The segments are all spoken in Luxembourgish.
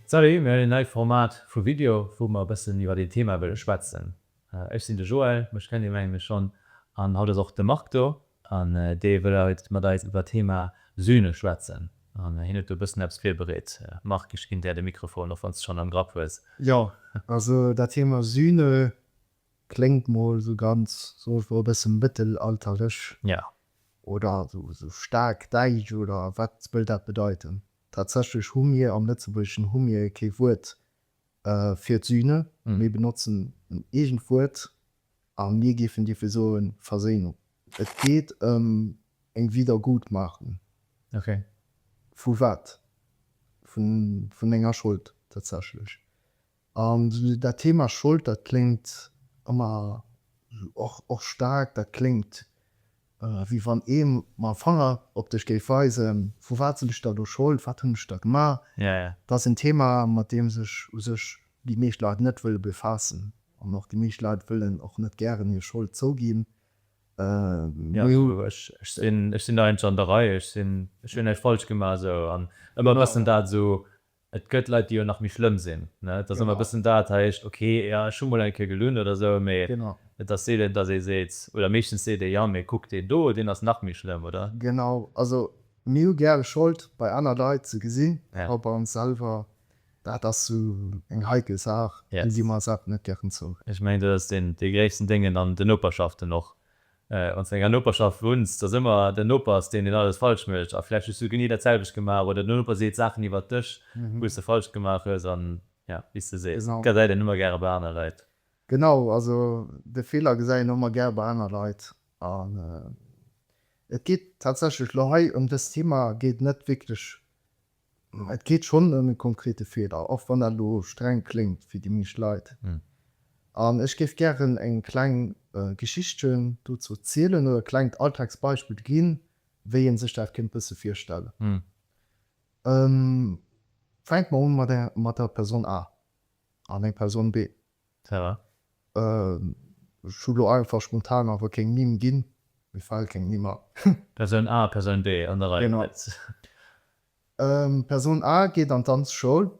Salut, mir hunn een neit Format vu Video wou mer e bëssen iwwert een Thema wëlle schwätzen. Ech sinn de Joël, mech kennt dir menge mir schonn, an haut ass och de Marc do an dee wëll haut mat eis iwwert Thema Sühne schwätzen an hien huet do e bëssen eppes virbereet. Marc, ech ginn där de Mikrofon, och wann s de schonn am Grapp hues. Jo, also dat Thema Sühne Kléngt mol sou ganz, soen ech mol, e bësse mëttelalterlech. Jo. Oder sou staark däitsch, oder wat wëll dat bedeiten? Tatsächlech hu mir, am Lëtzebuergeschen hu mir kee Wuert fir d'Sühne, mir benotzen en eegent Wuert a mir géifen dierfe soen Verséinung. Et geet ëm eng Wiedergutmachung. Ok. Vu wat? Vun enger Schold tatsächlech. An dat Thema Schold, dat kléngt ëmmer esou, och staark, dat kléngt, wéi wann ee mam Fanger op dech géif weisen, vu wat sinn ech da elo Schold, wat hunn ech da gemaach? Dat ass en Thema, mat deem sech u sech déi meescht Leit net wëlle befaassen. An och déi meescht Leit wëllen och net gären hir Schold zouginn. Ech sinn eigentlech an der Rei, ech hunn näischt falsch gemaach. Esou, an ëmmer e bëssen dat esou Et gëtt Leit, déi jo nach méi schlëmm sinn, ne? Et ass ëmmer e bëssen dat, hei heescht, ok, jo, ech hu mol eng Kéier gelunn oder esou, mee et ass seelen, datt ee seet, oder meeschtens seet ee, jo, mee kuck deen do, deen ass nach méi schlëmm, oder? Genau, also mir hu gäre Schold bei aner Leit ze gesinn, awer bei ons selwer, dat ass esou eng heikel Saach, do gi mer eis awer net gären zou. Ech mengen, dat ass dee gréissten Déngen an den Noperschaften och, Wann s du an enger Noperschaft wunns, dass ëmmer den Noper ass deen, deen alles falsch mécht a vläicht hues du genee dat selwecht gemaach oder den Noper seet Saachen iwwert dech wou s de falsch gemaach hues an jo wéi s de sees gesäit een ëmmer gäre bei aner Leit. Genau, also de Feeler gesäit een ëmmer gär bei aner Leit an et geet tatsächlech lo hei ëm dëst Thema geet net wierklech Et geet schonn ëm e konkrete Feeler, och wann dat elo streng kléngt fir déi meescht Leit. An ech géif gären eng kleng Geschichtchen dozou zielen oder e klengt Alltagsbeispill ginn, wéi ee sech dat kéint bësse virstellen. Fänke mer un mat der Persoun A an eng Persoun B. Sarah? Ech hu lo einfach spontan awer keng Nimm ginn. Mir fale keng Nimm a. Persoun A, Persoun B an der Rei. Genau. Persoun A geet an d'Danzschoul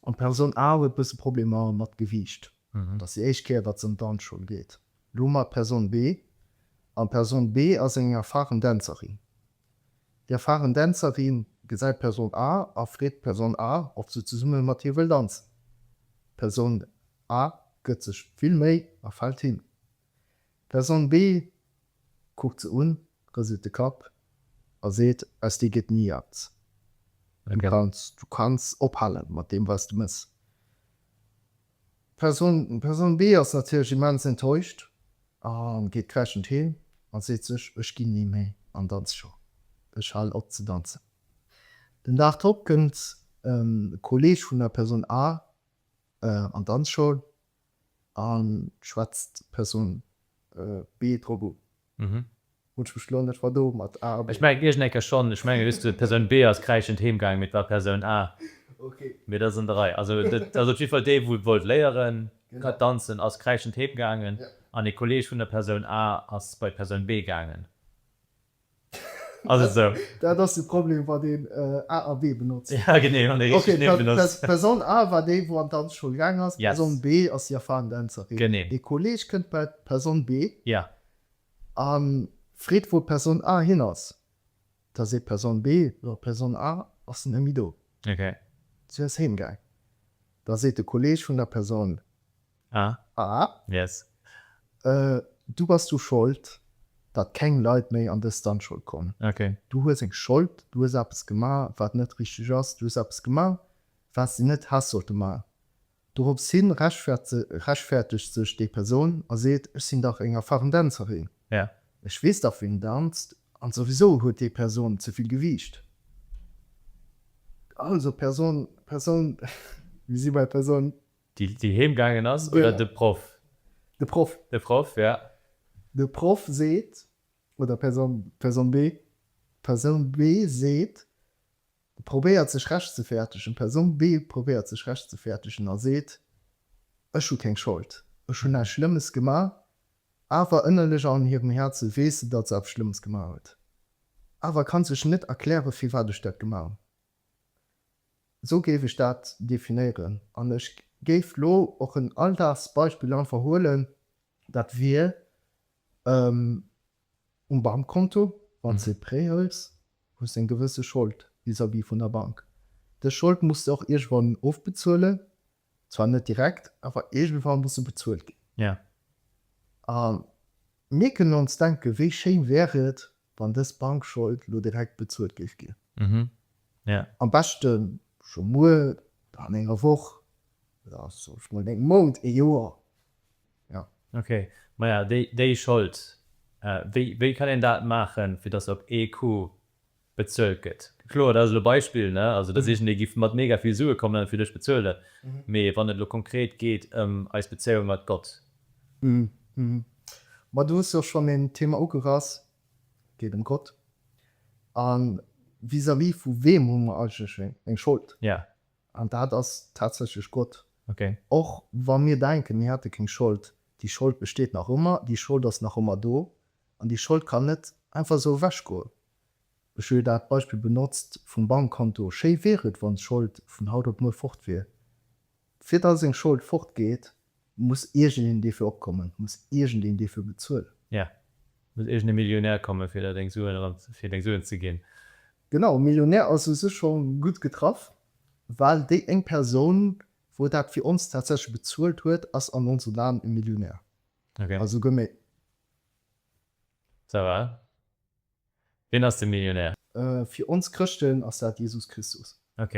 an d'Persoun A huet e bësse Problemer mat Gewiicht. Et ass déi éischt Kéier, datt se an d'Danzschoul geet. Elo hu mer d'Persoun B an d'Persoun B ass eng erfaren Dänzerin. Déi erfaren Dänzerin gesäit d'Person A a freet d'Person A, ob se zesumme mat hir wëll danzen. D'Person A gëtt sech vill Méi a fält hin. D'Person B kuckt se un, rëselt de Kapp a seet, Aus dir gëtt ni eppes. Du kanns ophale mat deem, wat s de mëss. D'Persoun B ass natierlech immens enttäuscht a geet kräschend heem a seet sech, Ech ginn ni méi an d'Danzschoul, ech halen op ze danzen. Den Dag drop kënnt e Kolleeg vun der Persoun A an d'Danzschoul a schwätzt d'Persoun B drop un. Hunn ech mech lo net mer domat A. Ech mengen iergend eng Kéier schonn. Ech mengen just d'Persoun B ass kräischend heem gaangen, mee et war d'Persoun A. Mee dat ass an der Rei. Also et ass op jiddwer Fall dee wou wollt léieren danzen ass kräischend heem gaangen an ee Kolleeg vun der Persoun A ass bei d'Persoun B gaangen. Ass et esou? Dat ass de Problem wann een A a B benotzt. Ja genee, wann ee richteg Nimm benotzt. D'Persoun A war déi wou an d'Danzschoul gaangen ass, d'Persoun B ass déi erfaren Dänzerin. Genee. Ee Kolleeg kënnt bei. Persoun B a freet, wou d'Persoun A hin ass. Da seet d'Persoun B, Jo, d'Persoun A ass net méi do. Si ass heem gaang. Da seet de Kolleeg vun der Persoun A, Du bass du Schold, datt keng Leit méi an dës Dungeon kommen. Du hues eng Schold, du hues eppes gemaach, wat net richteg ass. Du hues eppes gemaach, wat se net häss sollte maachen. Dorops hin rechtfertegt sech déi Persoun a seet, Ech sinn dach eng erfaren Dänzerin, ech weess dach wien danzt, an souwisou huet déi Persoun ze vill Gewiicht. Also Persoun, Persoun, mir si bei Persoun. Déi heem gaangen ass oder de Proff? De Proff. De Proff, jo. De Proff seet, oder Persoun, Persoun B, Persoun B seet, probéiert sech rechtzefäertegen, d'Persoun B probéiert sech rechtzefäertegen a seet, Ech hu keng Schold, ech hunn näischt Schlëmmes gemaach. Awer ënnerlech an hirem Häerze weess se, datt se eppes Schlëmmes gemaach huet, awer kann sech net erklären, firwat ech dat gemaach hunn. Esou géif ech dat definéieren an ech géif lo och en Alldagsbeispill einfach huelen. Dat wier Um Bankkonto, wann s de e Prêt hëls, hues de eng gewësse Schold vis-à-vis vun der Bank. Dës Schold muss de och iergendwann ofbezuelen, zwar net direkt, awer iergendwann muss se bezuelt ginn. A mir kënnen ons denken, wéi schéin wär et, wann dës Bankschold elo direkt bezuelt géif ginn, am beschte scho muer, oder an enger Woch, oder soss mol an engem Mount, ee Joer, Jo. Ok, maja déi déi Schold, wéi wéi kann een dat maachen fir dass se op ee Coup bezuelt gëtt? Kloer dat ass elo Beispill ne, also dass iergendee giff mat mega vill Sue kommen an fir dech bezuelen, mee wann et elo konkret geet ëm eis Bezéiung mat Gott. Hm, ma do hues de och schonn een Thema ugerass, et geet ëm Gott, a vis-à-vis vu weem hu mer eigentlech eng Schold? Jo. An dat ass tatsächlech Gott. Och wa mir denken, mir hätte keng Schold, déi Schold besteet nach ëmmer, déi Schold ass nach ëmmer do an déi Schold kann net einfach esou ewechgoen. Ech hu jo dat Beispill benotzt vum Bankkonto. Schéi wier et, wann d'Schold vun haut op muer fort wier. Fir datt eng Schold fortgeet, muss iergendeen dofir opkommen, muss iergendeen dofir bezuelen. Et muss iergende Millionär kommen, fir der deng Suen eran, fir deng Suen ze ginn. Genau, Millionär ass u sech scho gutt getraff, well déi éng Persoun, wou dat fir ons tatsächlech bezuelt huet, ass an onsen Aen e Millionär. Also gëtt méi. Ça va. Wien ass de Millionär? Fir ons Chrëschten ass dat Jesus Christus. Ok.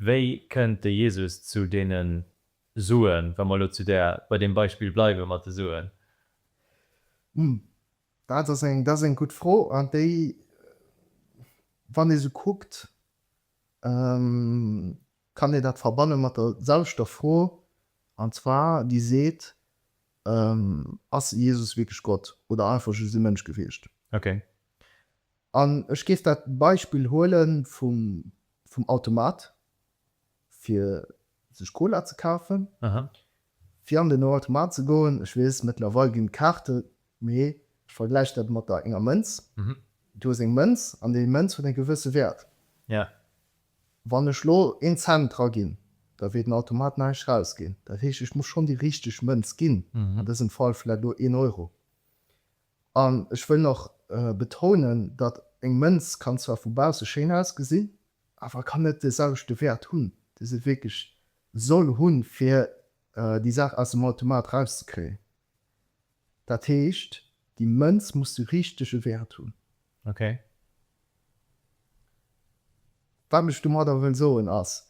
Wéi kënnt de Jesus zu deene Suen, wa mer elo zu där, bei deem Beispill bleiwe mat de Suen? Hm, Dat ass eng, dat ass eng gutt Fro an déi, wann ee se kuckt, kann ee dat verbanne mat der selwechter Fro, an zwar déi seet, Ass Jesus wierklech Gott oder einfach just e Mënsch gewiescht? An ech géif dat Beispill huele vum Automat, fir sech Cola ze kafen, fir an den Automat ze goen. Ech weess, mëttlerweil ginn d'Kaarte, mee ech vergläiche dat mat der enger Mënz. Du hues eng Mënz an déi Mënz huet e gewësse Wäert. Wann ech elo een Cent draginn, da wier den Automat näischt rausginn. Dat heescht, ech muss schonn déi richteg Mënz ginn, an dësem Fall vläicht elo een Euro. An ech wëll nach betounen, datt eng Mënz kann zwar vu bausse schéin ausgesinn, awer kann net de selwechte Wäert hunn, dee se wierklech soll hunn, fir déi Saach aus dem Automat rauszekréien. Dat heescht, déi Mënz muss de richtege Wäert hunn. Okay. Wat ech domadder wëll soen ass,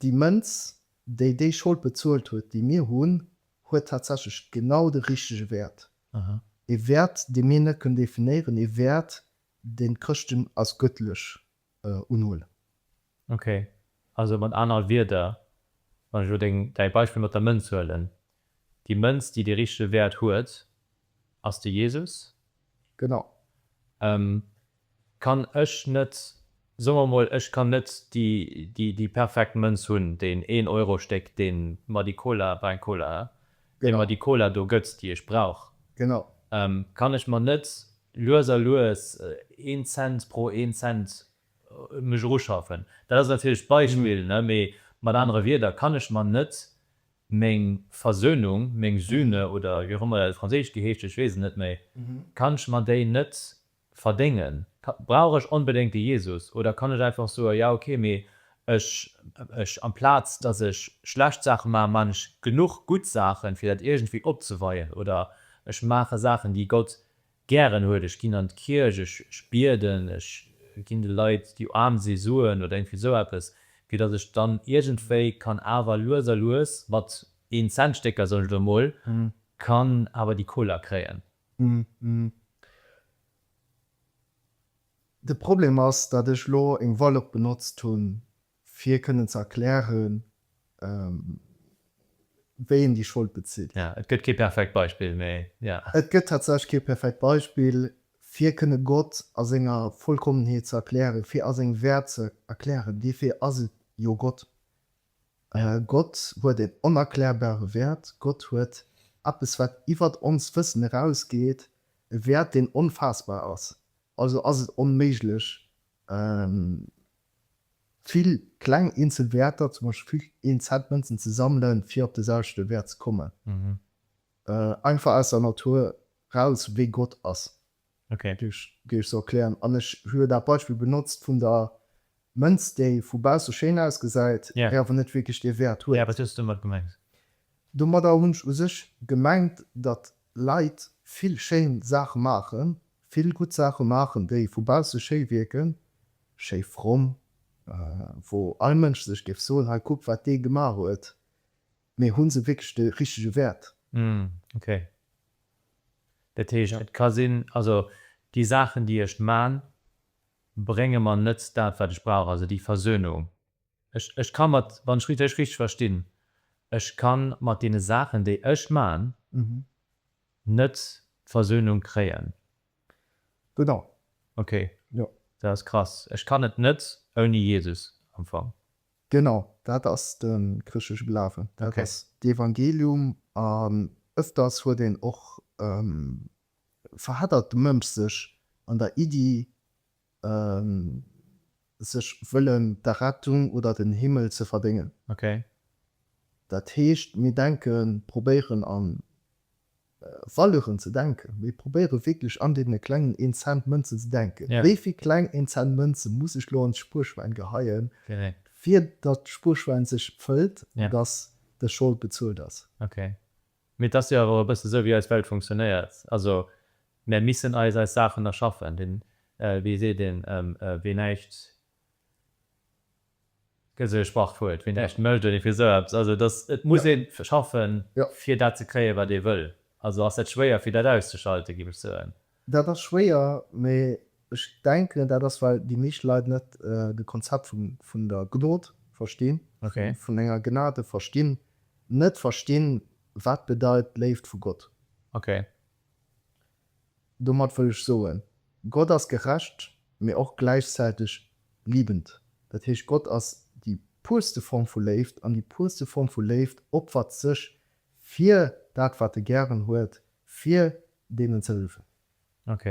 déi Mënz, déi déi Schold bezuelt huet, déi mir hunn, huet tatsächlech genau de richtege Wäert, ee Wäert, dee mir net kënnen definéieren, ee Wäert, deen d'Chrëschten als gëttlech unhuelen. Ok, also mat aner Wierder, wann ech elo deng, däi Beispill mat der Mënz huelen, déi Mënz, déi dee richtege Wäert huet, ass de Jesus. Genau. kann ech net, soe mer emol, ech kann net déi perfekt Mënz hunn, deen Een-Euro-Stéck, dee mer déi Cola, war eng Cola, hä? dee mer déi Cola do gëtt, déi ech brauch, kann ech mer net lues a lues een Cent pro een Cent mech eruschaffen? Dat ass natierlech d'Beispill, ne, mee mat anere Wieder, kann ech mer net meng Versönung, meng Sühne oder wéi och ëmmer dat op Franséisch geheescht huet, ech weess et net méi, kann ech mer déi net Verdéngen? Brauch ech onbedéngt de Jesus? Oder kann ech einfach soen, ja ok, mee ech, ech, amplaz dass ech schlecht Saache maachen, maachen ech genuch gutt Saachen, fir dat iergendwéi opzeweien. Oder ech maache Saachen, déi Gott gären huet, ech ginn an d'Kierch, ech, ech bieden, ech ginn de Leit, déi aarm si, Suen oder iergendwéi esou eppes, fir dass ech dann iergendwéi kann awer lues a lues, mat Een-Cent-Stécker, soen ech elo emol, kann awer déi Koler kréien. De Problem ass, datt ech elo eng Valeur benotzt hunn, fir kënnen ze erklären, wéi een déi Schold bezitt. Ja, et gëtt kee perfekt Beispill, mee ja. Et gëtt tatsächlech kee perfekt Beispill, fir kënne Gott a senger Vollkommenheet ze erklären, fir a sengem Wäert ze erklären. Dofir ass et jo Gott. Gott huet een onerklärbare Wäert. Gott huet eppes, wat iwwert onst Wëssen erausgeet, e Wäert, deen onfaassbar ass. Also ass et onméiglech, vill kleng eenzel Wäerter, zum Beispill vill een Cent Mënzen, ze sammelen, fir op de selwechte Wäert ze kommen, einfach aus der Natur eraus, wéi Gott ass. Duerch géif ech se erklären. An ech hu jo dat Beispill benotzt vun der Mënz, déi vu bausse schéin ausgesäit, mä awer net wierklech dee Wäert huet. Wat hues du domat gemengt? Domadder hunn ech u sech gemengt, datt Leit vill schéin Saache maachen, vill gutt Saache maachen, déi vu bausse schéi wierken, schéi fromm, wou all Mënsch sech géif soen, hei kuck wat dee gemaach huet, mä hu se wierklech de richtege Wäert? Dat heescht, et ka sinn, also déi Saachen, déi ech man, brénge mer net dat, wat ech brauch, also déi Versönung. Ech ka mat, wann ech Iech richteg verstinn, ech ka mat deene Saachen, déi ech man, net d'Versönung kréien. Genau. Okay, dat ass krass. Ech kann et net ouni Jesus am Fong. Genau, dat ass de chrëschtlesche Glawen. Dat ass d'Evangelium. An ëfters huet een och, verheddert de Mënsch sech an der Iddi, sech wëllen d'Errettung oder den Himmel ze verdéngen. Dat heescht, mir denken, probéieren an Valeuren ze denken. Mir probéiere wierklech an deene klengen Een-Cent-Mënzen ze denken. Wéi vill kleng Een-Cent-Mënze muss ech elo an d'Spuerschwäin geheien, fir datt d'Spuerschwäin sech fëllt an datt dës Schold bezuelt ass? Ok. Mee et ass jo awer och e bësse esou, wéi eis Welt funktionéiert. Also mär missen eis eis Saachen erschaffen. Wéi seet een, Wee näischt Gëtt esou ee Sprachwuert, wien näischt mécht oder ierfir esou eppes. Also dass, et muss ee schaffen, fir dat ze kréien, wat ee wëll. Also ass dat schwéier, fir dat auszuschalten, géif ech soen. Dat ass schwéier, mee ech denken, dat ass, well déi meescht Leit net de Konzept vun der Gnod verstinn, vun enger Gnade verstinn, net verstinn, wat bedeit d'Léift vu Gott. Okay. Domat wëll ech soen, Gott ass gerecht, mee och gläichzäiteg liebend. Dat heescht, Gott ass déi puerste Form vu Léift, an déi puerste Form vu Léift opfert sech fir dat, wat e gären huet, fir deenen ze hëllefen. Ok.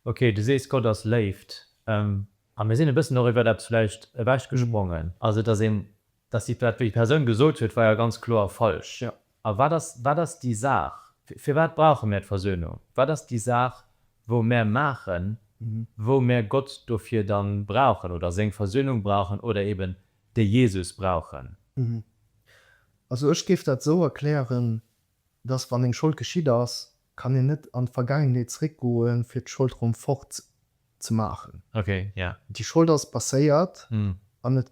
Ok, du sees, Gott ass Léift. A mir sinn e bëssen och iwwer eppes vläicht ewechgesprongen. Also, et ass een Dass déi Persoun gesot huet, war jo ganz kloer falsch. A wat ass, wat ass déi Saach, firwat brauche mär d'Versöhnung? Wat ass déi Saach, wou mär maachen, wou mär Gott dofir dann brauchen oder seng Versöhnung brauchen oder eben de Jesus brauchen? Also ech géif dat esou erklären, dass wann eng Schold geschitt ass, kann een net an d'Vergaangenheet zréckgoen, fir d'Schold erëm fort ze maachen. Okay, ja. Déi Schold ass passéiert an et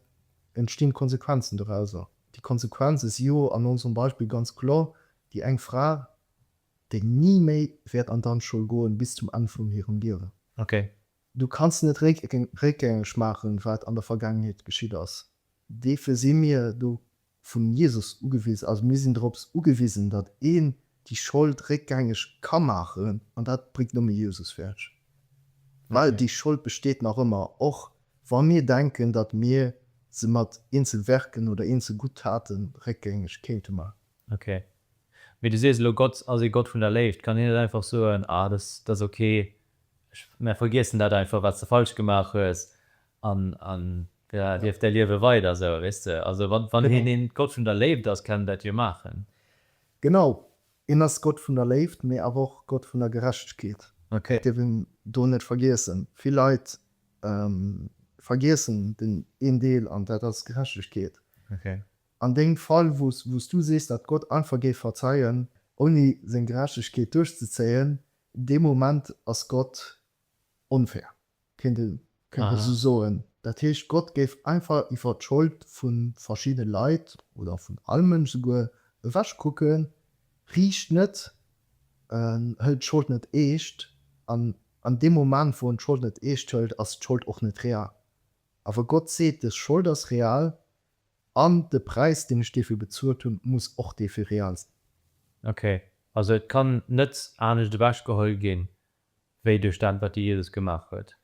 entstinn Konsequenzen dorauser. Déi Konsequenze si jo an onserem Beispill ganz kloer déi eng Fra, déi ni méi wäert an d'Danzschoul goen bis zum Enn vun hirem Liewen. Okay. Du kanns net réckgängeg maachen, wat an der Vergaangenheet geschitt ass. Deefir si mir do vun Jesus ugewisen ass. Mir sinn dorops ugewisen, datt een déi Schold réckgängeg ka maachen, an dat bréngt nëmme Jesus fäerdeg, well déi Schold besteet nach ëmmer, och wa mir denken, datt mir se mat eenzel Werken oder eenzel gutt Taten réckgängeg kéinte maachen. Ok, mee du sees elo, Gott ass ee Gott vun der Léift. Kann hien net einfach soen, Ah, dat ass ok, mär vergiessen dat einfach, wat s de falsch gemaach hues, an Da lieft däi Liewe weider esou, weess de. Also wann, wann een een Gott vun der Léift ass, kann en dat jo maachen. Genau, en ass Gott vun der Léift, mee awer och Gott vun der Gerechtegkeet. Ok. Dat dierf een do net vergiessen. Vill Leit vergiessen den een Deel, an dat ass Gerechtegkeet. Ok. An dengem Fall, wou s, wou s du sees, datt Gott einfach géif verzeien, ouni seng Gerechtegkeet duerchzezéien, dee Moment ass Gott onfair. kéint ee sou soen. Dat heescht, Gott géif einfach iwwer d'Schold vu verschiddene Leit, oder vun all Mënsch souguer, ewech kucken, riicht net, hëlt d'Schold net eescht, an an deem Moment, wou en d'Schold net eescht hëlt, ass d'Schold och net real. Awer Gott seet, dës Schold ass real, an de Präis, deen ech dofir bezuelt hunn, muss och dee fir real sinn. Ok, also et kann net anescht ewechgeholl ginn, Wéi duerch dat, wat de Jesus gemaach huet?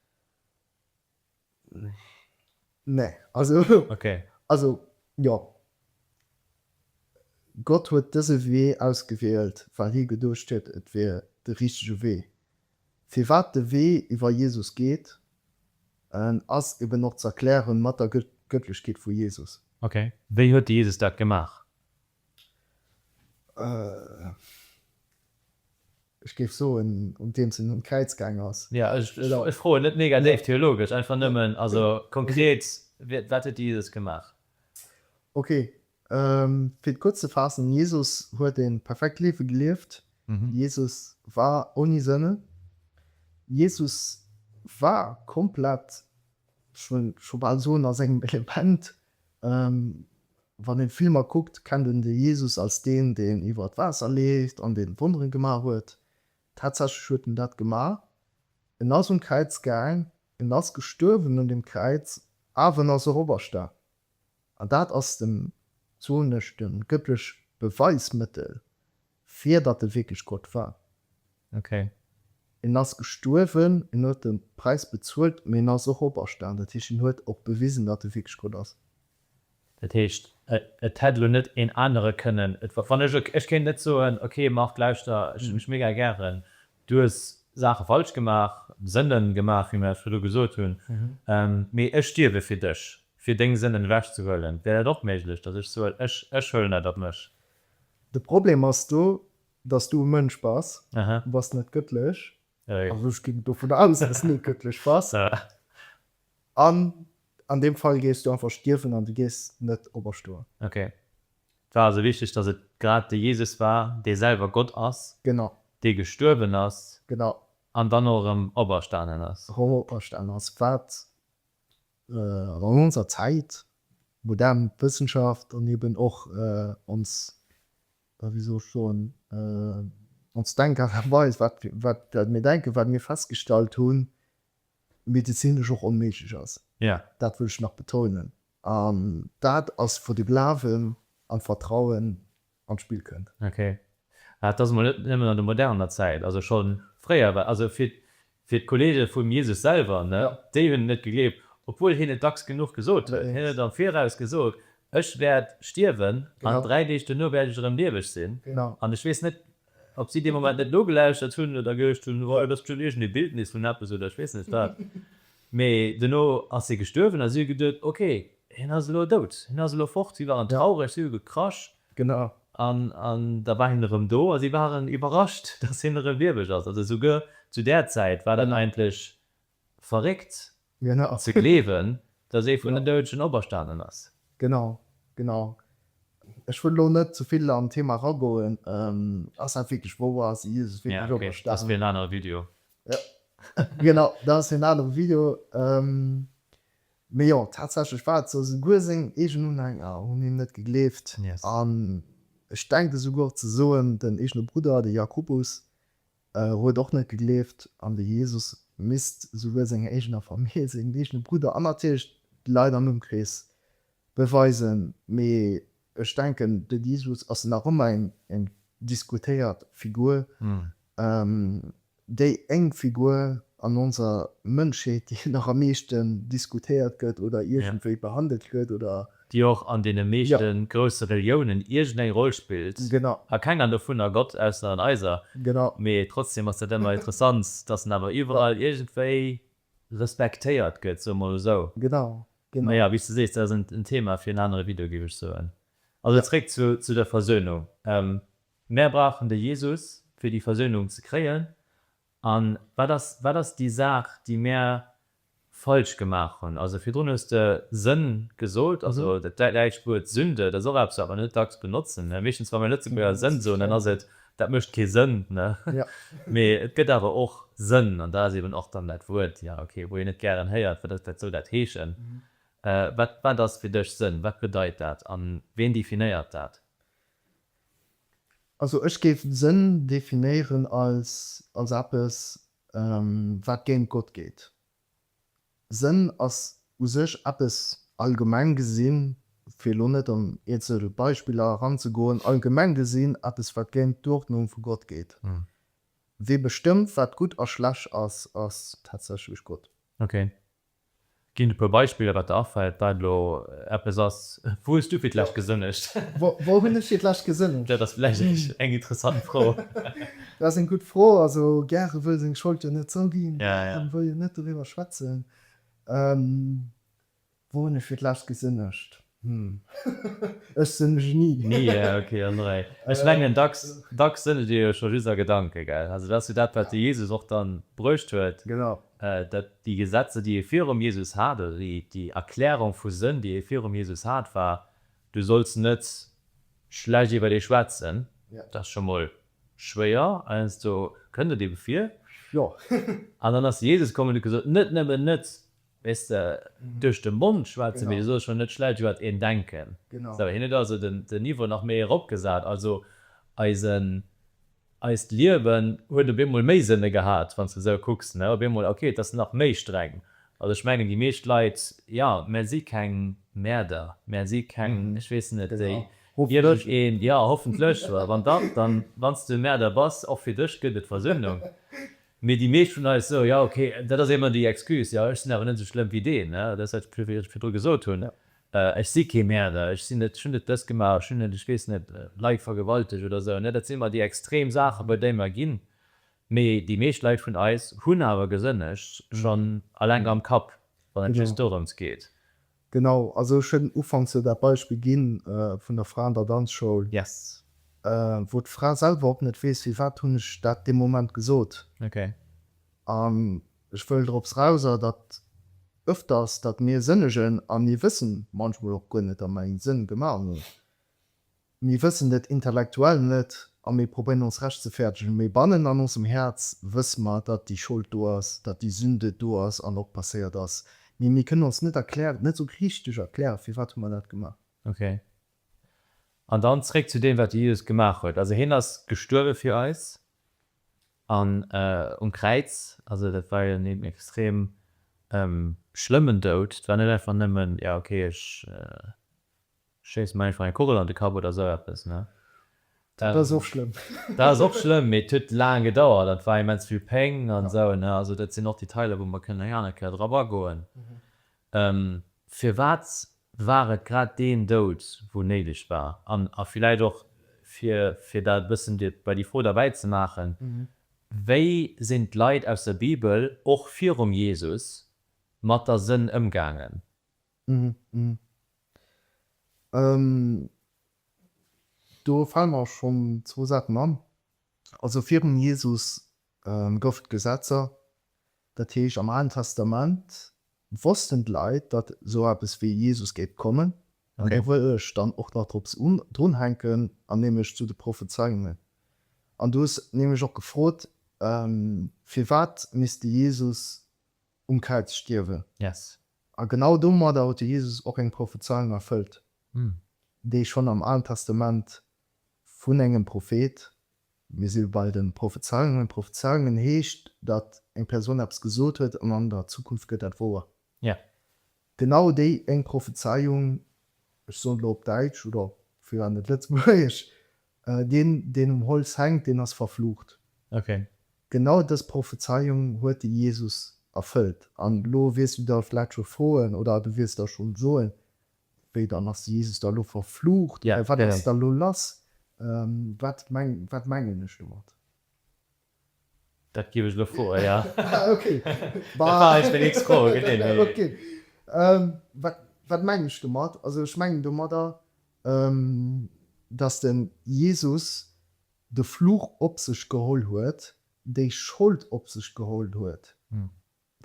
Nee. Also, okay. Also, jo. Gott huet dëse Wee ausgewielt, well hie geduecht huet, et wier de richtege Wee. Firwat de Wee iwwer Jesus geet, ass eben och z'erklären mat der Gëttlechkeet vu Jesus. Okay. Wéi huet de Jesus dat gemaach? Ech géif soen, un deems en un d'Kräiz gaang ass. Ja, ech froen net negatéiv theologesch, einfach nëmmen, also konkret, wat huet de Jesus gemaach? Ok, fir et kuerz ze faassen, Jesus huet e perfekt Liewe gelieft, Jesus war ouni Sënne, Jesus war komplett, ech wëll scho bal soen, a sengem Element, Wann een d'Filmer kuckt, kennt een de Jesus als deen, deen iwwert Waasser leeft an deen Wonneren gemaach huet. Tatsächlech huet en dat gemaach. En ass un Kräiz gaang, en ass gestuerwen un dem Kräiz, awer en ass och operstaang. An dat ass den, soen ech, den gëttlech Beweismëttel Fir datt e wierklech Gott war. Okay. En ass gestuerwen, en huet de Präis bezuelt, mee en ass och operstan. Dat heescht, en huet och bewisen, datt e wierklech Gott ass. Dat heescht, et hätt elo net een anere kënnen, wann ech, ech kéint net soen, okay Marc, lauschter, ech hunn dech mega gären, du hues Saache falsch gemaach, Sënnen gemaach, wéi mir dat virdru gesot hunn, mee ech stierwe fir dech, fir deng Sënnen ewechzehuelen. Wär dat och méiglech, datt ech soen, ech, ech huelen dat op mech? De Problem ass do, dass du e Mënsch bass, du bass net gëttlech, also ech ginn dovun aus, dass s net gëttlech bass, an an deem Fall géifs du einfach stierwen an du géifs net operstoen. Ok. Et war also wichteg, dass et grad de Jesus war, dee selwer Gott ass, Genau. dee gestuerwen ass Genau. an dann och erëm operstanen ass. Erëm operstanen ass, wat An an onser Zäit, modern Wëssenschaft an eben och ons, ja wéi soll ech soen, ons Denkart a Weis, wat mir denken, wat mir festgestallt hunn, medezinesch och onméiglech ass. Dat wëll ech nach betounen. An dat ass, wou de Glawen an d'Vertrauen an d'Spill kënnt. Ok. Ah, et ass emol net nëmmen an der moderner Zäit, also scho fréier war, also fir, fir d'Kollege vum Jesus selwer, ne, déi hunn en net gegleeft, obwuel hien et dacks genuch gesot huet. Hien huet am Viraus gesot, Ech wäert stierwen an dräi Deeg duerno wäert ech erëm lieweg sinn. An ech weess net, ob si dee Moment net nogelauschtert hunn oder geduecht hunn, Oh, dat ass bestëmmt iergend ee Bildnis vun eppes oder ech weess net wat. Mee dono ass hie gestuerwen a si hu geduet, ok, hien ass elo dout, hien ass elo fort. Si waren traureg, si hu gekrasch. Genau. An da war hien erëm do a si waren iwwerrascht, dass hien erëm lieweg ass. Also souguer zu där Zäit war dat eigentlech verréckt ze gleewen, dass ee vun den Doudegen operstanen ass. Genau, genau. Ech wëll elo net ze vill an d'Thema eragoen. Ass dat wierklech wouer? Ass Jesus wierklech operstanen? Dat ass fir en anere Video. Jo, genau, dat ass en anere Video. Mee jo, tatsächlech war et esou, souguer seng eegen Unhänger hunn him net gegleeft. An ech denke souguer ze soen, den eegene Brudder, de Jakobus, huet och net gegleeft an de Jesus. Misst souguer senger eegener Famill, sengem eegene Brudder an natierlech d'Leit am Ëmkrees beweisen. Mee Ech denken, de Jesus ass nach ëmmer eng diskutéiert Figur, déi eng Figur an onser Mënschheet, déi nach am meeschten diskutéiert gëtt oder iergendwéi behandelt gëtt, oder. Déi och an deene meeschte grousse Reliounen iergendeng Roll spillt. Genau. A kenger dovun a Gott, ausser an eiser. Genau. Mee trotzdeem ass dat ëmmer interessant, dass en awer iwwerall iergendwéi respektéiert gëtt, soe mol esou. Genau, genau. Mä jo, wéi s de sees, dat ass en Thema fir en anere Video, géif ech soen. Also zréck zu der Versöhnung. Mär brauchen de Jesus, fir déi Versöhnung ze kréien. A wat ass déi Saach, déi mär falsch gemaach hunn? Also virdrun hues de Sënn gesot, also dat däitscht Wuert Sünde, dat ass och eppes, wat mer net dacks benotzen. Meeschtens, wa mir Lëtzebuerger Sënn soen, dann ass et Dat mécht kee Sënn, ne? Jo. Mee et gëtt awer och Sënn, an dat ass eben och dann dat Wuert, ja, okay, wou een net gären héiert, wat ass dat, soll dat heeschen? Wat, wat ass fir dech Sënn? Wat bedeit dat? A ween definéiert dat? Also ech géif Sënn definéieren als, als eppes, wat géint Gott geet. Sënn ass u sech eppes, allgemeng gesinn, fir elo net an eenzel Beispiller eranzegoen, allgemeng gesinn eppes, wat géint d'Uerdnung vu Gott geet. Wee bestëmmt, wat gutt a schlecht ass, ass tatsächlech Gott. Ok. Ginn e puer Beispiller, wat der afält, wat elo eppes ass. Wou hues du fir d'lescht gesënnegt? Wou hunn ech fir d'lescht gesënnegt? Dat ass vläicht eng interessant Fro. Dat ass eng gutt Fro. Also gäre wëll seng Schold jo net zouginn an wëll jo net doriwwer schwätzen. Wou hunn ech fir d'lescht gesënnegt? Hm, ech sënnege ni. Ni, ah ok. Ech mengen, dacks sënnegt ee jo scho just a Gedanken, gell? Also dat ass jo dat, wat de Jesus och dann bruecht huet, dat déi Gesetzer, déi ee virum Jesus hat, oder déi Erklärung vu Sënn, déi ee virum Jesus hat, war, Du solls net schlecht iwwer dee schwätzen. Dat ass scho mol Schwéier, heiansdo kënnt et eebe vir. Jo. An dann ass Jesus komm an huet gesot, Net nëmmen net, weess de, duerch de Mond schwätzen, mee du soll scho net schlecht iwwer een denken. Sou, hien huet also den Niveau nach méi eropgesat. Also eisen, eist Liewen huet op eemol méi Sënne gehat, wann s de esou kucks, ne? Op eemol, ok, et ass nach méi streng. Also ech mengen, déi meescht Leit, jo, mär si keng Mäerder, mär si keng, ech weess net, déi. Hoffentlech een, jo hoffentlech, wann dach, dann wanns de Märder bass, och fir dech gëtt et Versöhnung, mee déi meescht vun eis sou, jo ok, dat ass émmer déi Excuse, jo ech sinn awer net sou schlëmm wéi deen, ne, dat ass dat wat ech virdru gesot hunn, ech si kee Märder, ech sinn net, ech hunn net dëst gemaach, ech hunn net, ech weess net, Leit vergewaltegt oder sou, ne, dat sinn emmer déi extrem Saachen bei déi mer ginn, mee déi meescht Leit vun eis hunn awer gesënnegt, schonn alleng am Kapp, wann et just dorëms geet. Genau, also ech hunn ufanks jo dat Beispill ginn vun der Fra an der Danzschoul, wou d'Fra selwer och net weess, firwat hunn ech dat dee Moment gesot. An ech wëll drops raus ass dat öfters, datt mir sënnegen a mir wëssen manchmol och guer net, datt mer ee Sënn gemaach hunn. Mir wëssen et intellektuell net a mir probéieren ons rechtzefertegen, mee bannen an onsem Häerz wësse mer, datt déi Schold do ass, datt déi Sünde do ass an och passéiert ass, mee mir kënnen ons net erklären, net esou richteg erklären, firwat hu mer dat gemaach. Ok. An dann zréck zu deem, wat de Jesus gemaach huet. Also hien ass gestuerwe fir eis an um Kräiz. Also dat war jo en extrem schlëmmen Doud. Et war net einfach nëmmen, jo ok, ech Schéiss mer einfach eng Kugel an de Kapp oder esou eppes, ne? Dat ass och schlëmm. Dat ass och schlëmm, mee et huet laang gedauert an et war immens vill Péng an esou, ne? Also dat sinn och Detailer, wou mer kënnen eng aner Kéier drop agoen. Firwat war et grad deen Doud, wou néideg war? An a villäit och, fir, fir dat e bëssen bei déi Fro derbäi ze maachen, Wéi sinn d'Leit aus der Bibel och virum Jesus mat der Sënn ëmgaangen? Do fale mer schonn zwou Saachen an. Also virum Jesus gouf et Gesetzer. Dat heescht am Alen Testament wossten d'Leit, datt esou eppes wéi Jesus géif kommen. An do wëll ech dann och nach drop drunhänken, an nämlech zu de Prophezeiungen. An du hues nämlech och gefrot, firwat misst de Jesus um Kräiz stierwen. A genau domadder huet de Jesus och eng Prophezeiung erfëllt, déi schonn am Alen Testament vun engem Prophet, mir si bei de Prophezeiungen, Prophezeiungen heescht, datt eng Persoun eppes gesot huet an an der Zukunft gëtt dat wouer, genau déi eng Prophezeiung, ech soen elo op Däitsch oder firwat net Lëtzebuergesch, Deen, deen um Holz hänkt, deen ass verflucht. Okay. Genau dës Prophezeiung huet de Jesus erfëllt. An elo wiers du der vläicht scho froen, oder du wiers der schonn soen, Wéi, dann ass de Jesus da lo verflucht? Wat ass da lo lass? Wat mengen ech domat? Dat giff ech elo froen, jo. Ah, ok. Dat war eis meng nächst Fro, genee, wéi. Ok. Wat, wat mengen ech domat? Also ech mengen domadder, dass de Jesus de Fluch op sech geholl huet, déi Schold op sech geholl huet,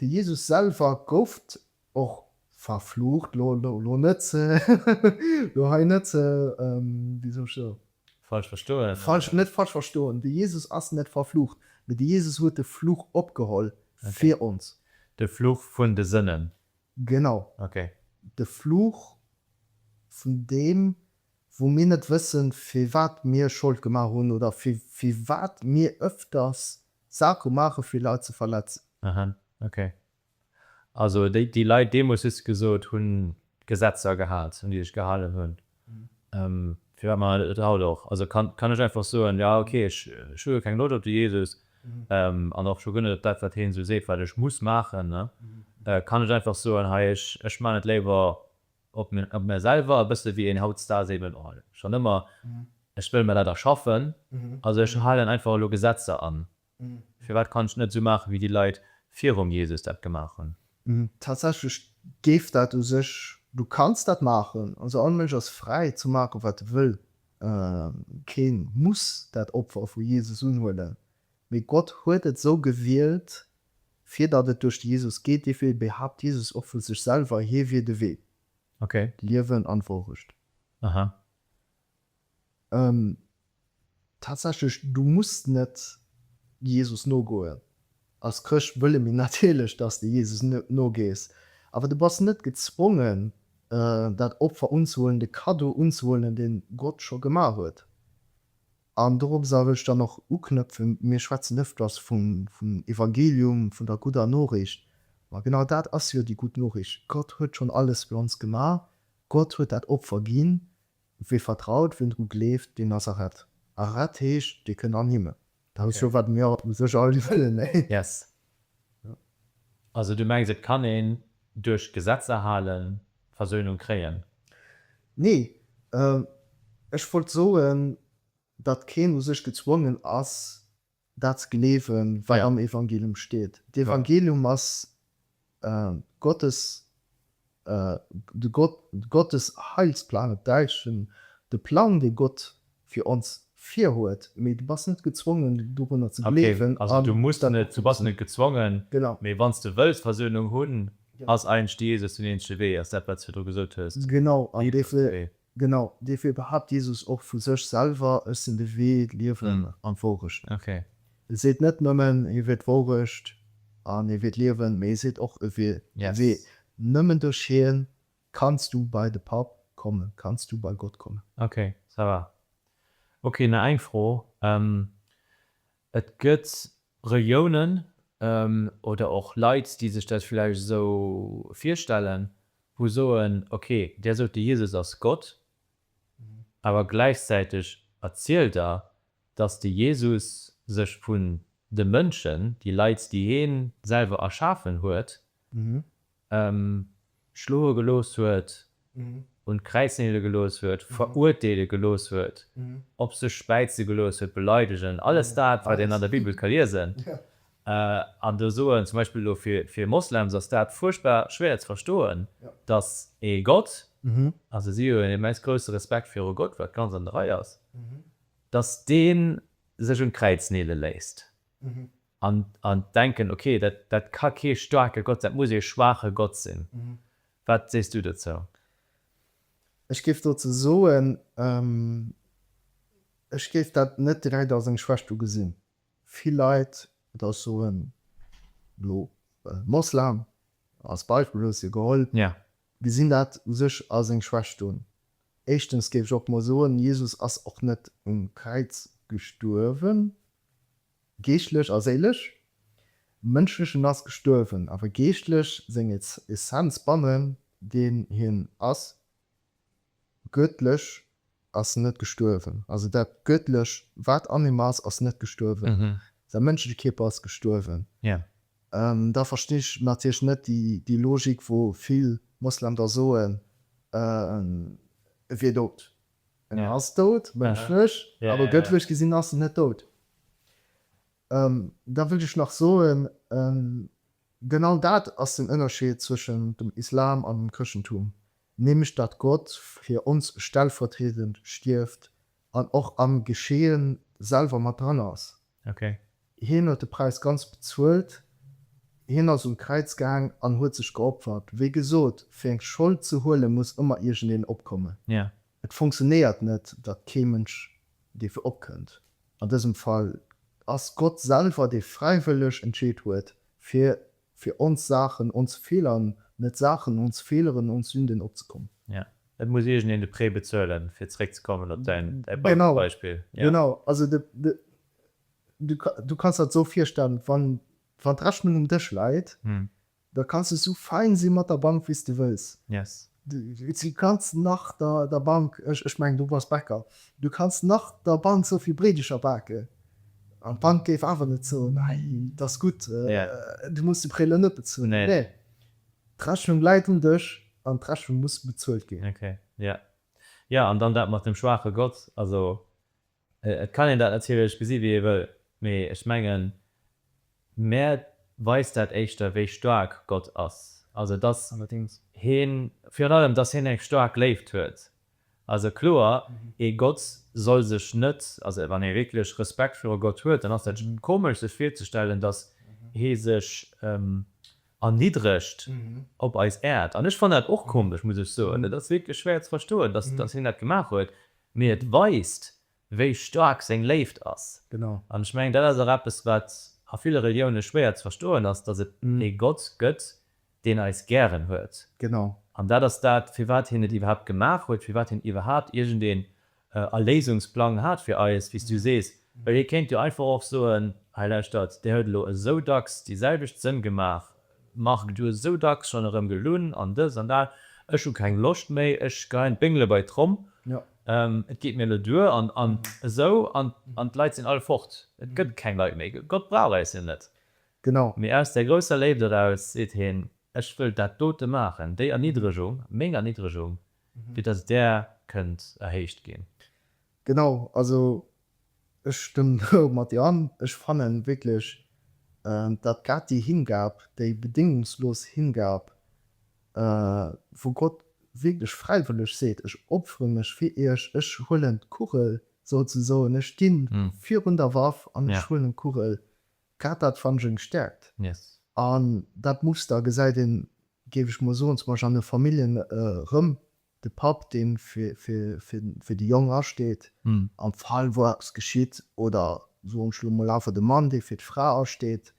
De Jesus selwer gouft och verflucht, lo lo lo net lo hei net wéi soll ech soen, Falsch verstoen falsch oder? net falsch verstoen, de Jesus ass net verflucht, mee de Jesus huet de Fluch opgeholl Ok. fir ons. De Fluch vun de Sënnen? Genau. Ok. De Fluch vun deem, wou mir net wëssen, firwat mir Schold gemaach hunn oder fir firwat mir öfters Sachen maache fir Leit ze verletzen. Aha, ok. Also déi Leit deemools, hues de gesot, hunn d'Gesetzer gehat, un déi sech gehalen hunn. Firwat maachen se dat net haut och? Also kann ech einfach soen, jo ok, ech hu jo keng Loscht op de Jesus an och scho guer net op dat, wat heen esou seet, wat ech muss maachen, kann ech einfach soen, hei ech maachen et léiwer op mär selwer e bësse wéi een haut Star si wëll. Ohal schonn ëmmer, ech wëll mär dat erschaffen. Also ech halen einfach elo Gesetzer an. Firwat kann ech net esou maache wéi déi Leit virum Jesus dat gemaach hunn? Tatsächlech géif dat u sech, du kanns dat maachen. Also all Mënsch ass fräi ze maache wat e wëll. Kee muss dat Opfer vu Jesus unhuelen. Mee Gott huet et esou gewielt, fir datt et duerch de Jesus geet. Dofir behaapt Jesus och vu sech selwer, hie wier de Wee, d'Liewen an d'Wourecht. Tatsächlech, du muss net Jesus nogoen. Als Chrëscht wëlle mir natierlech, datt s de Jesus nogees. Awer du bass net gezwongen, dat Opfer unzehuelen, de Kaddo unzehuelen, deen Gott scho gemaach huet. An dorop soll ech dann och uknëpfen, Mir schwätzen ëfters vum Evangelium, vun der gudder Noriicht. Ma genau dat ass jo déi gutt Noriicht, Gott huet schonn alles fir ons gemaach, Gott huet dat Opfer ginn. Wee vertraut, wien dru gleeft, deen ass erett. Erett heescht, dee kënnt an Himmel. Dat ass jo, wat mir u sech all wëllen. Yes. Also du mengs et kann een duerch d'Gesetzer halen d'Versöhnung kréien? Nee, ech wollt soen datt keen u sech gezwongen ass dat ze gleewen wat am Evangelium steet. D'Evangelium ass Gottes De Gott, Gottes Heilsplan op Däitsch, den, de Plang dee Gott fir ons virhuet, mee du bass net gezwongen dorunner ze gleewen. Also du muss net, du bass net gezwongen, mee wann s de wëlls Versöhnung hunn, ass eigentlech de Jesus den eenzege Wee, ass dat wat s virdru gesot hues. Genau, an dofir, Genau, dofir behaapt Jesus och vu sech selwer, Ech sinn de Wee, d'Liewen an d'Wourecht. E seet net nëmmen, hie wier d'Wourecht an hie wier d'Liewen, mee e seet och, e wier de Wee. Nëmmen duerch hien kanns du bei de Papp kommen, kanns du bei Gott kommen. Ok, ça va. Ok, nach eng Fro, Et gëtt Regiounen oder och Leit, déi sech dat vläicht esou virstellen, wou soen, okay, där sot, de Jesus ass Gott, awer gläichzäiteg erzielt der, datt de Jesus sech vun de Mënschen, déi Leit, déi hien selwer erschafen huet, schloe gelooss huet, un d'Kräiz nele gelooss huet, verurteele gelooss huet, op sech späize gelooss huet, beleidegen, alles dat, wat een an der Bibel ka liesen. An do soen, zum Beispill elo fir Moslems ass dat fuerchtbar schwéier ze verstoen, dass ee Gott, also si hunn en immens grousse Respekt viru Gott, wat ganz an der Rei ass, dass dee sech un d'Kräiz nele léisst. an denken, ok, dat ka kee staarke Gott sinn, dat muss ee schwaache Gott sinn. Wat sees du dozou? Ech géif dozou soen, ech géif dat net direkt als eng Schwächt ugesinn. Vill Leit, oder ech soen elo Moslem als Beispill, elo hues de jo geholl, gesinn dat u sech als eng Schwächt un. Éischtens géif ech och mol soen, Jesus ass och net um Kräiz gestuerwen, Geeschtlech a séilesch. Mënschlechen ass gestuerwen, awer geeschtlech, seng Essenz bannen deen hien ass, Göttlech, ass net gestuerwen. Also dat Göttlech wat an him ass, ass net gestuerwen. Säi mënschleche Kierper ass gestuerwen. Da verstinn ech natierlech net déi Logik wou vill Moslem da soen, e wier dout. En ass dout, mënschlech, awer gëttlech gesinn ass en net dout. Da wëll ech nach soen, genau dat ass den Ënnerscheed zwëschen dem Islam an dem Chrëschtentum, nämlech datt Gott fir ons stellvertriedend stierft an och am Geschehen selwer mat dran ass. Hien huet de Präis ganz bezuelt, hien ass un d'Kräiz gaang an huet sech geopfert. Wéi gesot, fir eng Schold ze huelen, muss ëmmer iergendeen opkommen. Et funktionéiert net, datt kee Mënsch dierfir opkënnt. An dësem Fall ass Gott selwer, dee fräiwëlleg entscheet huet, fir fir ons Saachen, ons Fehlern, net Saachen, ons Fehleren, ons Sünden opzekommen. Ja, et muss iergendeen de Prêt bezuelen, fir zréckzekommen op däi Bankbeispill. Genau, genau. Also du kanns der et esou virstellen, wann d'Rechnung um Dësch läit, da kanns de esou fein si mat der Bank, wéi s de wëlls. Yes. Du kanns nach der Bank, ech mengen du bass Bäcker, du kanns nach der Bank sou vill Breedecher baken an d'Bank géif awer net soen, Nei, et ass gutt, du muss de Prêt elo net bezuelen. Nee, d'Rechnung läit um Dësch an d'Rechnung muss bezuelt ginn. Ok, jo. Jo, an dann dat mat dem schwaache Gott, also Et kann een dat natierlech gesi wéi ee wëll, mee ech mengen, mär weist dat éischter wéi staark Gott ass, also dass hien, virun allem dass hien eng staark Léift huet. Also kloer, ee Gott soll sech net, also wann ee wierklech Respekt viru Gott huet, dann ass dat komesch sech virzestellen, dass hie sech erniddregt op eis Äerd. An ech fannen dat och komesch, muss ech soen, et ass wierklech schwéier ze verstoen, dass hien dat gemaach huet. Mee et weist, wéi staark seng Léift ass. Genau. An ech mengen, dat ass och eppes, wat a ville Relioune schwéier ze verstoen ass, datt et ee Gott gëtt, deen eis gären huet. Genau. An dat ass dat, firwat hien et iwwerhaapt gemaach huet, firwat hien iwwerhaapt iergendeen Erléisungsplang hat fir eis, wéi s du sees. Well hie kéint jo einfach och soen, Hei, lauschtert, där huet elo esou dacks déi selwecht Sënn gemaach, Marc, Du hues esou dacks schonn erëm gelunn an dës an dat, ech hu keng Loscht méi, ech geheien d'Béngele bei d'Tromm, et geet mir elo duer an esou an d'Leit sinn all fort, et gëtt keng Leit méi, Gott brauch äis jo net. Genau. Mee aus där grousser Léift eraus seet heen, ech wëll dat dote maachen, déi Erniddregung, meng Erniddregung, fir datt där kënnt erhéicht ginn. Genau, also Ech stëmmen do mat dir an. Ech fannen wierklech dat grad déi Hingab, déi bedéngungslos Hingab, wou Gott wierklech fräiwëlleg seet, ech opfere mech fir iech, ech huelen d'Kugel souzesoen, ech sti virun der Waff an ech huelen d'Kugel, grad dat fannen ech eng Stäerkt. An dat Muster gesäit een, géif ech mol soen, zum Beispill an de Familljen erëm, De Papp, dee fir déi Jonk asteet am Fall wou eppes geschitt, oder soen ech elo mol awer de Mann, dee fir d'Fra asteet,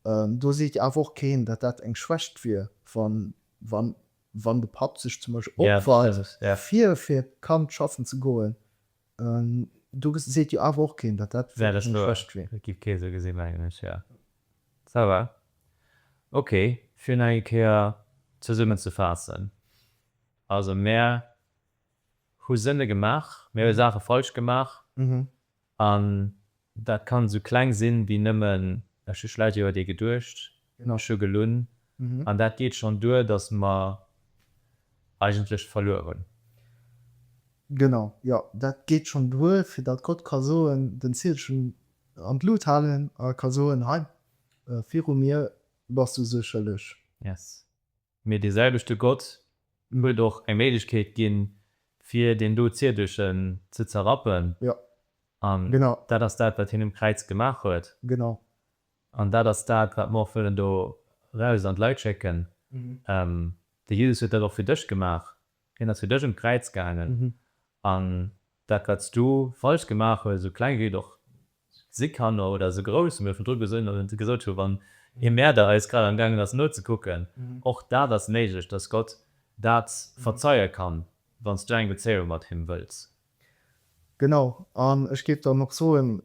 do seet awer och keen, datt dat eng Schwächt wier, wann de Papp sech zum Beispill opweit, fir fir d'Kand schaffen ze goen, Do seet jo awer och keen, datt dat wierklech eng Frëscht wier. Dat géif kee sou gesinn, mengen ech, jo. Ça va. Ok, fir nach eng Kéier zesummen ze faassen, Also mär hu Sënne gemaach, mär hu Saache falsch gemaach an Dat kann esou kleng sinn wéi nëmmen, ech hu vläit jo u dee geduecht, ech hu gelunn, an dat geet schonn duer, datt mer eigentlech verluer hunn. Genau, jo, dat geet schonn duer, fir datt Gott ka soen, den Zielchen an d'Lut halen a ka soen, Hei, viru mir bass du sou schëlleg. Yes. Mee dee selwechte Gott huet och eng Méiglechkeet ginn, fir deen do Ziedechen ze zerrappen. An dat ass dat, wat hien um Kräiz gemaach huet. An dat ass dat, wat mer och wëllen do eraus an d'Leit schécken. De Jesus huet dat och fir dech gemaach. Hien ass fir dech un d'Kräiz gaangen an dat wat s du falsch gemaach hues, esou kleng wéi et och si kann oder esou grouss, wéi mer virdru gesot hu wann ee Mäerder eis grad am gaangen ass nozekucken, och dat ass méiglech, dass Gott dat verzeie kann, wann s du eng Bezéiung mat him wëlls. Genau, an ech géif dann och soen,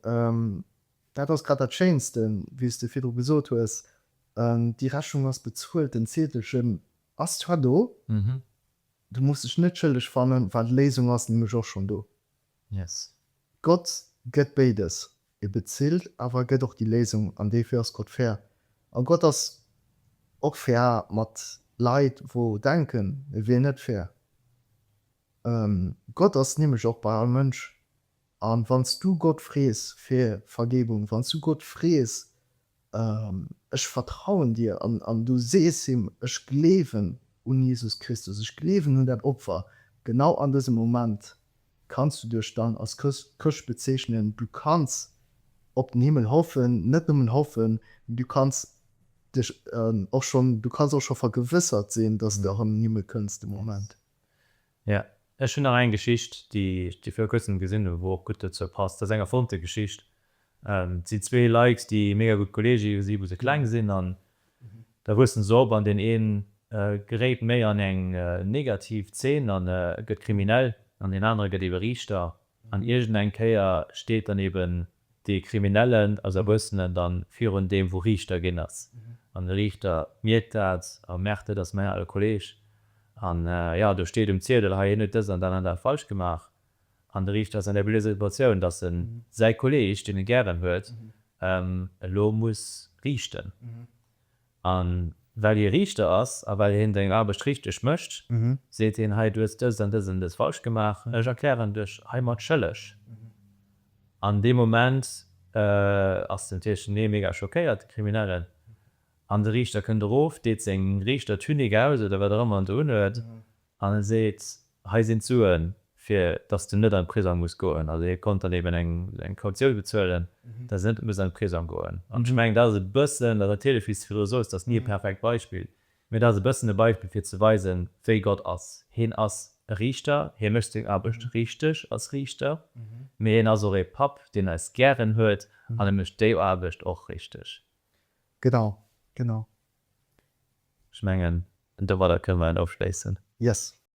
dat ass grad dat Schéinste, wéi s de virdru gesot hues, déi Rechnung ass bezuelt, den Zeetelchen Ass zwar do, du muss dech net schëlleg fannen, well d'Léisung ass nämlech och schonn do. Yes. Gott gëtt béides, e bezilt, awer e gëtt och déi Léisung, an duerfir ass Gott fair. A Gott ass och fair mat Leit wou denken e wier net fair. Gott ass nämlech och bei all Mënsch, a wann s du Gott frees fir Vergebung, wann s du Gott frees Ech vertrauen Dir. An du sees him, Ech gleewen un Jesus Christus, ech gleewen un dat Opfer. Genau an dësem Moment kanns du dech dann als Chrëscht bezeechnen. Du kanns op den Himmel hoffen, net nëmmen hoffen, mee du kanns dech och schonn, du kanns och scho vergewëssert sinn, dass de erëm an den Himmel kënns de Moment. Jo, ech hunn nach eng Geschicht, déi ech viru kuerzem gesinn hunn, wou och gutt dozou passt. Dat ass eng erfonnte Geschicht. Et sinn zwee Lykes, déi mega gutt Kolleege si wou se kleng sinn an da wuessen se op an deen een geréit méi an eng negativ Zeen an gëtt kriminell an deen anere gëtt ebe Riichter an iergendeng Kéier steet dann eben Dee Kriminellen ass Erwuessenen dann virun deem wou Riichter ginn ass an de Riichter mierkt dat a merkt dat ass mäin ale Kolleg an jo do steet um Ziedel hei hien huet dëst an dat an dat falsch gemaach an de Riichter ass an der blöder Situatioun dass en säi Kolleg deen e gären huet elo muss riichten. A well hie Riichter ass a well hien seng Aarbecht richteg mécht, seet hien, Hei, du hues dëst an dëst an dëst falsch gemaach, ech erklären dech heimat schëlleg. An dee Moment ass den Tierchenier mega schockéiert, de Kriminellen, an de Riichter kënnt erof, deet seng Riichter-Tunique aus oder wat och ëmmer en do unhuet, An e seet, Hei sinn d'Suen, fir dass du net an d'Prisong muss goen. Also hie konnt dann eben eng Kautioun bezuelen, dass en net muss an d'Prisong goen. An ech mengen, dat ass e bëssen, dat ass natierlech, wéi s de virdru sot, et ass ni e perfekt Beispill, mä et ass e bëssen e Beispill, fir ze weisen, wéi Gott ass. Hien ass e Riichter, hie mécht seng Aarbecht richteg als Riichter, mä hien ass och ee Papp, deen eis gären huet, an e mécht déi Aarbecht och richteg. Genau, genau. Ech mengen, domadder kënne mer en ofschléissen. Yes.